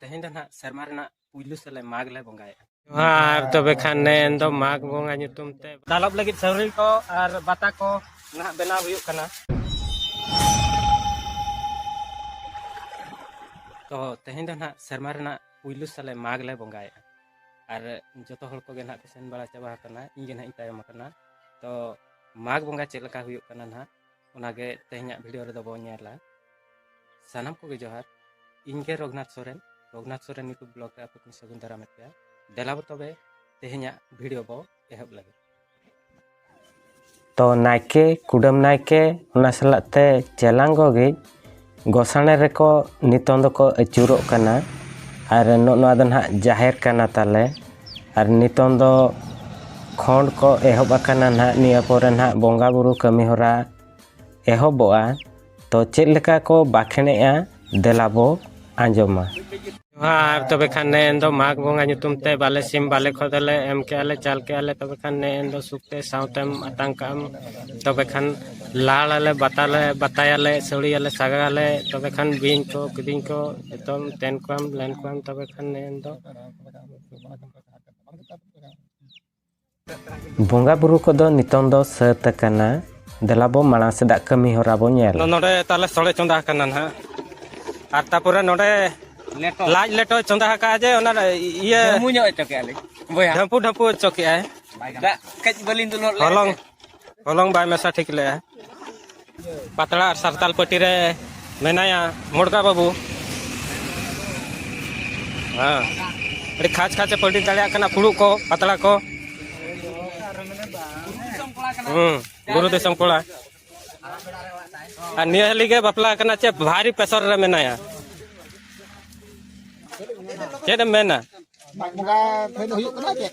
ᱛᱮᱦᱮᱧ ᱫᱚ ᱱᱟᱜ ᱥᱮᱨᱢᱟ ᱨᱮᱱᱟᱜ ᱯᱩᱭᱞᱩ ᱥᱮᱞᱮ ᱢᱟᱜᱽ ᱞᱮ ᱵᱚᱸᱜᱟᱭᱟ ᱟᱨ ᱛᱚᱵᱮ ᱠᱷᱟᱱ ᱱᱮᱱ ᱫᱚ ᱢᱟᱜᱽ ᱵᱚᱸᱜᱟ ᱧᱩᱛᱩᱢ ᱛᱮ ᱫᱟᱞᱚᱵ ᱞᱟᱹᱜᱤᱫ ᱥᱟᱹᱣᱨᱤ ᱠᱚ ᱟᱨ ᱵᱟᱛᱟ ᱠᱚ ᱱᱟᱜ ᱵᱮᱱᱟᱣ ᱦᱩᱭᱩᱜ ᱠᱟᱱᱟ ᱛᱚ ᱛᱮᱦᱮᱧ ᱫᱚ ᱱᱟᱜ ᱥᱮᱨᱢᱟ ᱨᱮᱱᱟᱜ ᱯᱩᱭᱞᱩ ᱥᱟᱞᱮ ᱢᱟᱜᱽ ᱞᱮ ᱵᱚᱸᱜᱟᱭᱮᱫᱼᱟ ᱟᱨ ᱡᱚᱛᱚ ᱦᱚᱲ ᱠᱚᱜᱮ ᱱᱟᱜ ᱠᱚ ᱥᱮᱱ ᱵᱟᱲᱟ ᱪᱟᱵᱟ ᱟᱠᱟᱱᱟ ᱤᱧ ᱜᱮ ᱱᱟᱜ ᱤᱧ ᱛᱟᱭᱚᱢ ᱟᱠᱟᱱᱟ ᱛᱚ ᱢᱟᱜᱽ ᱵᱚᱸᱜᱟ ᱪᱮᱫ ᱞᱮᱠᱟ ᱦᱩᱭᱩᱜ ᱠᱟᱱᱟ ᱱᱟᱜ ᱚᱱᱟᱜᱮ ᱛᱮᱦᱮᱧᱟᱜ ᱵᱷᱤᱰᱤᱭᱳ ᱨᱮᱫᱚ ᱵᱚᱱ ᱧᱮᱞᱟ ᱥᱟᱱᱟᱢ ᱠᱚᱜᱮ ᱡᱚᱦᱟᱨ ᱤᱧᱜᱮ ᱨᱚᱜᱷᱩᱱᱟᱛᱷ ᱥᱚᱨᱮᱱ ᱨᱚᱜᱷᱩᱱᱟᱛᱷ ᱥᱚᱨᱮᱱ ᱱᱤᱠᱩ ᱵᱞᱚᱜ ᱨᱮ ᱟᱯᱮ ᱠᱚᱧ ᱥᱟᱹᱜᱩᱱ ᱫᱟᱨᱟᱢᱮᱫ ᱯᱮᱭᱟ ᱫᱮᱞᱟ ᱵᱚ ᱛᱚᱵᱮ ᱛᱮᱦᱮᱧᱟᱜ ᱵᱷᱤᱰᱤᱭᱳ ᱵᱚ ᱮᱦᱚᱵ ᱞᱟᱹᱜᱤᱫ ᱛᱚ ᱱᱟᱭᱠᱮ ᱠᱩᱰᱟᱹᱢ ᱱᱟᱭᱠᱮ ᱚᱱᱟ ᱥᱟᱞᱟᱜ ᱛᱮ ᱪᱮᱞᱟᱝ ᱜᱚᱜᱤᱡ ᱜᱚᱥᱟᱬᱮ ᱨᱮᱠᱚ ᱱᱤᱛᱚᱝ ᱫᱚᱠᱚ ᱟᱹᱪᱩᱨᱚᱜ ᱠᱟᱱᱟ ᱟᱨ ᱱᱚᱜᱼᱚ ᱱᱚᱣᱟ ᱫᱚ ᱱᱟᱦᱟᱜ ᱡᱟᱦᱮᱨ ᱠᱟᱱᱟ ᱛᱟᱞᱮ ᱟᱨ ᱱᱤᱛᱚᱝ ᱫᱚ ᱠᱷᱚᱸᱰ ᱠᱚ ᱮᱦᱚᱵ ᱟᱠᱟᱱᱟ ᱱᱟᱦᱟᱜ ᱱᱤᱭᱟᱹ ᱯᱚᱨᱮ ᱱᱟᱦᱟᱜ ᱵᱚᱸᱜᱟᱼᱵᱩᱨᱩ ᱠᱟᱹᱢᱤᱦᱚᱨᱟ ᱮᱦᱚᱵᱚᱜᱼᱟ ᱛᱚ ᱪᱮᱫ ᱞᱮᱠᱟ ᱠᱚ ᱵᱟᱸᱠᱷᱮᱬᱮᱜᱼᱟ ᱫᱮᱞᱟ ᱵᱚ ᱟᱸᱡᱚᱢᱟ ᱟᱨ ᱛᱚᱵᱮ ᱠᱷᱟᱱ ᱱᱮ ᱮᱱᱫᱚ ᱢᱟᱜᱽ ᱵᱚᱸᱜᱟ ᱧᱩᱛᱩᱢ ᱛᱮ ᱵᱟᱞᱮ ᱥᱤᱢ ᱵᱟᱞᱮ ᱠᱷᱚᱫᱮ ᱞᱮ ᱮᱢ ᱠᱮᱜᱼᱟ ᱞᱮ ᱪᱟᱞ ᱠᱮᱜᱼᱟ ᱞᱮ ᱛᱚᱵᱮ ᱠᱷᱟᱱ ᱱᱮ ᱮᱱᱫᱚ ᱥᱩᱠ ᱛᱮ ᱥᱟᱶᱛᱮᱢ ᱟᱛᱟᱝ ᱠᱟᱜ ᱟᱢ ᱛᱚᱵᱮ ᱠᱷᱟᱱ ᱞᱟᱲ ᱟᱞᱮ ᱵᱟᱛᱟ ᱞᱮ ᱵᱟᱛᱟᱭᱟᱞᱮ ᱥᱟᱹᱲᱤᱭᱟᱞᱮ ᱥᱟᱜᱟᱲ ᱟᱞᱮ ᱛᱚᱵᱮ ᱠᱷᱟᱱ ᱵᱤᱧ ᱠᱚ ᱠᱤᱫᱤᱧ ᱠᱚ ᱡᱚᱛᱚᱢ ᱛᱮᱱ ᱠᱚᱣᱟᱢ ᱞᱮᱱ ᱠᱚᱣᱟᱢ ᱛᱚᱵᱮ ᱠᱷᱟᱱ ᱱᱮ ᱮᱱᱫᱚ ᱵᱚᱸᱜᱟ ᱵᱩᱨᱩ ᱠᱚᱫᱚ ᱱᱤᱛᱚᱝ ᱫᱚ ᱥᱟᱹᱛ ᱟᱠᱟᱱᱟ ᱫᱮᱞᱟ ᱵᱚ ᱢᱟᱲᱟᱝ ᱥᱮᱫᱟᱜ ᱠᱟᱹᱢᱤ ᱦᱚᱨᱟ ᱵᱚ ᱧᱮᱞ ᱱᱚᱰᱮ ᱛᱟᱦᱞᱮ ᱥᱚᱲᱮ ᱪᱚᱸᱫᱟ ᱟᱠᱟᱱᱟ ᱱᱟᱦᱟᱜ ᱟᱨ ᱛᱟᱯᱚᱨᱮ ᱱᱚᱰᱮ ᱞᱟᱡ ᱞᱮᱴᱚᱭ ᱪᱚᱸᱫᱟ ᱟᱠᱟᱫᱼᱟ ᱡᱮ ᱚᱱᱟ ᱤᱭᱟᱹ ᱰᱷᱟᱹᱢᱯᱩ ᱰᱷᱟᱹᱢᱯᱩ ᱚᱪᱚ ᱠᱮᱫᱼᱟᱭ ᱫᱟᱜ ᱠᱟᱹᱡ ᱵᱟᱹᱞᱤᱧ ᱫᱩᱞ ᱦᱚᱞᱚᱝ ᱦᱚᱞᱚᱝ ᱵᱟᱭ ᱢᱮᱥᱟ ᱴᱷᱤᱠ ᱞᱮᱜᱼᱟ ᱯᱟᱛᱲᱟ ᱟᱨ ᱥᱟᱨᱛᱟᱞ ᱯᱟᱹᱴᱤ ᱨᱮ ᱢᱮᱱᱟᱭᱟ ᱢᱩᱲᱜᱟ ᱵᱟᱹᱵᱩ ᱦᱮᱸ ᱟᱹᱰᱤ ᱠᱷᱟᱪ ᱠᱷᱟᱪᱮ ᱯᱟᱹᱴᱤ ᱫᱟᱲᱮᱭᱟᱜ ᱠᱟᱱᱟ ᱯᱷᱩᱲᱩᱜ ᱠᱚ ᱯᱟᱛᱲᱟ ᱠᱚ ᱦᱮᱸ ᱵᱩᱨᱩ ᱫᱤᱥᱚᱢ ᱠᱚᱲᱟ ᱟᱨ ᱱᱤᱭᱟᱹ ᱦᱟᱹᱞᱤ ᱜᱮ ᱵᱟᱯᱞᱟ ᱠᱟᱱᱟ ᱪᱮ ᱵᱷᱟᱨᱤ ᱯᱮᱥᱚᱨ ᱨᱮ ᱢᱮᱱᱟᱭᱟ ᱪᱮᱫ ᱮᱢ ᱢᱮᱱᱟ ᱢᱟᱜ ᱵᱚᱸᱜᱟ ᱴᱷᱮᱱ ᱦᱩᱭᱩᱜ ᱠᱟᱱᱟ ᱪᱮᱫ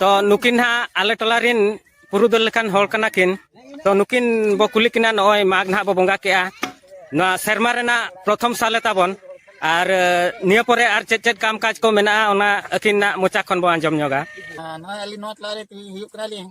ᱛᱚ ᱱᱩᱠᱤᱱ ᱦᱟᱸᱜ ᱟᱞᱮ ᱴᱚᱞᱟ ᱨᱤᱱ ᱯᱩᱨᱩᱫᱷᱩᱞ ᱞᱮᱠᱟᱱ ᱦᱚᱲ ᱠᱟᱱᱟ ᱠᱤᱱ ᱛᱚ ᱱᱩᱠᱤᱱ ᱵᱚ ᱠᱩᱞᱤ ᱠᱤᱱᱟ ᱱᱚᱜᱼᱚᱭ ᱢᱟᱜᱽ ᱱᱟᱦᱟᱜ ᱵᱚ ᱵᱚᱸᱜᱟ ᱠᱮᱜᱼᱟ ᱱᱚᱣᱟ ᱥᱮᱨᱢᱟ ᱨᱮᱱᱟᱜ ᱯᱨᱚᱛᱷᱚᱢ ᱥᱟᱞᱮ ᱛᱟᱵᱚᱱ ᱟᱨ ᱱᱤᱭᱟᱹ ᱯᱚᱨᱮ ᱟᱨ ᱪᱮᱫ ᱪᱮᱫ ᱠᱟᱢ ᱠᱟᱡᱽ ᱠᱚ ᱢᱮᱱᱟᱜᱼᱟ ᱚᱱᱟ ᱟᱹᱠᱤᱱᱟᱜ ᱢᱚᱪᱟ ᱠᱷᱚᱱ ᱵᱚ ᱟᱸᱡᱚᱢ ᱧᱚᱜᱟ ᱱᱚᱜᱼᱚᱭ ᱟᱹᱞᱤᱧ ᱱᱚᱣᱟ ᱴᱚᱞᱟ ᱨᱮ ᱦᱩᱭᱩᱜ ᱠᱟᱱᱟᱞᱤᱧ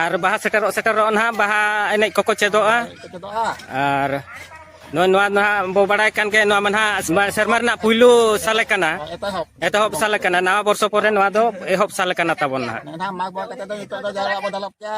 ᱟᱨ ᱵᱟᱦᱟ ᱥᱮᱴᱮᱨᱚᱜ ᱥᱮᱴᱮᱨᱚᱜ ᱱᱟᱦᱟᱜ ᱵᱟᱦᱟ ᱮᱱᱮᱡ ᱠᱚᱠᱚ ᱪᱮᱫᱚᱜᱼᱟ ᱟᱨ ᱱᱚᱜᱼᱚᱭ ᱱᱚᱣᱟ ᱱᱟᱦᱟᱜ ᱵᱚ ᱵᱟᱲᱟᱭ ᱠᱟᱱ ᱜᱮ ᱱᱚᱣᱟ ᱢᱟ ᱱᱟᱦᱟᱜ ᱥᱮᱨᱢᱟ ᱨᱮᱱᱟᱜ ᱯᱩᱭᱞᱩ ᱥᱟᱞᱮ ᱠᱟᱱᱟ ᱮᱛᱚᱦᱚᱵ ᱥᱟᱞᱮ ᱠᱟᱱᱟ ᱱᱟᱣᱟ ᱵᱚᱨᱥᱚ ᱯᱚᱨᱮ ᱱᱚᱣᱟ ᱫᱚ ᱮᱦᱚᱵ ᱥᱟᱞᱮ ᱠᱟᱱᱟ ᱛᱟᱵᱚᱱ ᱱᱟᱦᱟᱜ ᱢᱟᱜᱽ ᱵᱚᱸᱜᱟ ᱠᱟᱛᱮ ᱫᱚ ᱱᱤᱛᱚᱜ ᱫᱚ ᱡᱟᱣᱨᱟᱜ ᱵᱚ ᱫᱟᱞᱚᱵ ᱠᱮᱭᱟ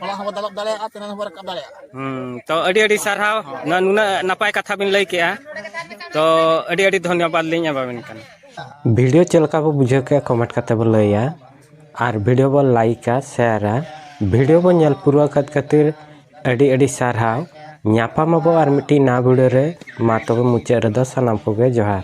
ᱦᱚᱞᱟ ᱦᱚᱸᱵᱚ ᱫᱟᱞᱚᱵ ᱫᱟᱲᱮᱭᱟᱜᱼᱟ ᱛᱤᱱᱟᱹᱜ ᱦᱚᱸᱵᱚ ᱨᱟᱠᱟᱵ ᱫᱟᱲᱮᱭᱟᱜᱼᱟ ᱦᱩᱸ ᱛᱚ ᱟᱹᱰᱤ ᱟᱹᱰᱤ ᱥᱟᱨᱦᱟᱣ ᱱᱚᱣᱟ ᱱᱩᱱᱟᱹᱜ ᱱᱟᱯᱟᱭ ᱠᱟᱛᱷᱟ ᱵᱤᱱ ᱞᱟᱹᱭ ᱠᱮᱜᱼᱟ ᱛᱚ ᱟᱹᱰᱤ ᱟᱹᱰᱤ ᱫᱷᱚᱱᱭᱚᱵᱟᱫ ᱞᱤᱧ ᱮᱢᱟᱵᱤᱱ ᱠᱟᱱᱟ ᱵᱷᱤᱰᱤᱭᱳ ᱪᱮᱫ ᱞᱮᱠᱟ ᱵᱚ ᱵᱩᱡᱷᱟᱹᱣ ᱠᱮᱜᱼᱟ ᱠᱚᱢᱮᱱᱴ ᱠᱟᱛᱮ ᱵᱚ ᱞᱟᱹᱭᱟ ᱟᱨ ᱵᱷᱤᱰᱭᱳ ᱵᱚᱱ ᱞᱟᱭᱤᱠᱟ ᱥᱮᱭᱟᱨᱟ ᱵᱷᱤᱰᱭᱳ ᱵᱚᱱ ᱧᱮᱞ ᱯᱩᱨᱟᱹᱣ ᱟᱠᱟᱫ ᱠᱷᱟᱹᱛᱤᱨ ᱟᱹᱰᱤ ᱟᱹᱰᱤ ᱥᱟᱨᱦᱟᱣ ᱧᱟᱯᱟᱢ ᱟᱵᱚ ᱟᱨ ᱢᱤᱫᱴᱤᱡ ᱱᱟᱣᱟ ᱵᱷᱤᱰᱭᱳ ᱨᱮ ᱢᱟ ᱛᱚᱵᱮ ᱢᱩᱪᱟᱹᱫ ᱨᱮᱫᱚ ᱥᱟᱱᱟᱢ ᱠᱚᱜᱮ ᱡᱚᱦᱟᱨ